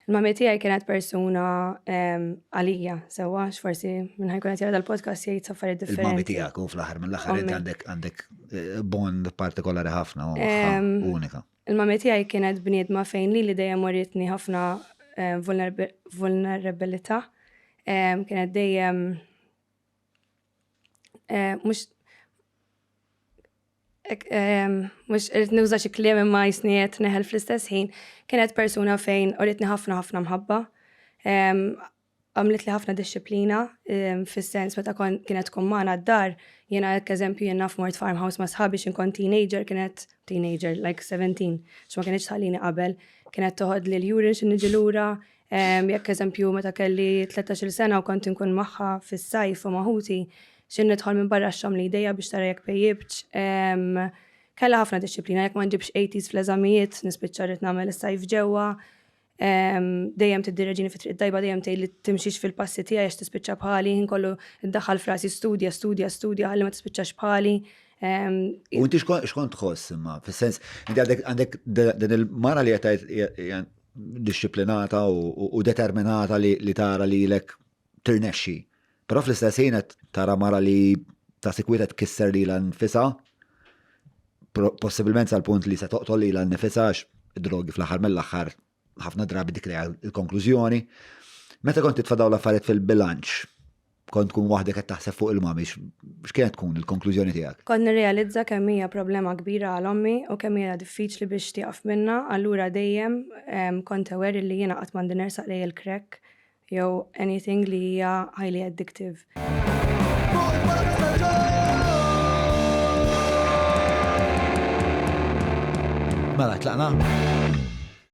Il-mami tiegħi kienet persuna għalija, sewwa, x'forsi minn ħajkun qed jara dal-podcast jgħid saffari differenti. Il-mami tiegħek u fl-aħħar mill-aħħar għandek għandek eh, bond partikolari ħafna u unika. Il-mami tiegħi kienet bniedma fejn li li dejjem waritni ħafna eh, vulnerabilità. Kienet dejjem eh, mhux mux irrit nuża xi kliem imma jisni qed neħel fl-istess ħin, kienet persuna fejn uritni ħafna ħafna mħabba. Għamlet li ħafna disċiplina fis-sens meta kienet tkun magħna d-dar, jiena hekk eżempju jien naf mort farmhouse ma' sħabi xi nkun teenager kienet teenager like 17 x'ma kienx tħallini qabel, kienet toħodli l-urine xi niġi lura, Jekk eżempju meta kelli 13-il sena u kont inkun magħha fis-sajf u ma' ħuti, xi nidħol minn barra x-xogħol mlidejja biex tara jekk pejjibtx. Kellha ħafna dixxiplina, jekk ma nġibx 80s fl-eżamijiet, nispiċċa rrid nagħmel is-sajf ġewwa. Dejjem tiddireġini fit-triq it-tajba, dejjem tgħidli timxix fil-passi tiegħi għax tispiċċa bħali, ħin kollu ddaħħal f'rasi studja, studja, studja ħalli ma tispiċċax bħali. U inti x'kont tħoss imma, fis-sens, inti għandek din il-mara li qed disciplinata u determinata li tara li lek tirnexxi. Però fl-istess ħin qed tara mara li ta' sikwiet qed kisser li la nfisa, possibilment sal-punt li se toqtol li la nfisa għax drogi fl-aħħar mill-aħħar ħafna drabi dik il-konklużjoni. Meta kont titfa' dawn l-affarijiet fil-bilanċ, kont tkun waħdek qed taħseb fuq il mami x'kienet tkun il-konklużjoni tiegħek? Kont nirrealizza kemm hija problema kbira għal ommi u kemm hija diffiċli biex tieqaf minnha, allura dejjem ehm, kont aware li jiena qatt m'għandi nersaq lej il-crack jew anything li hija highly addictive. Mela, tlaqna?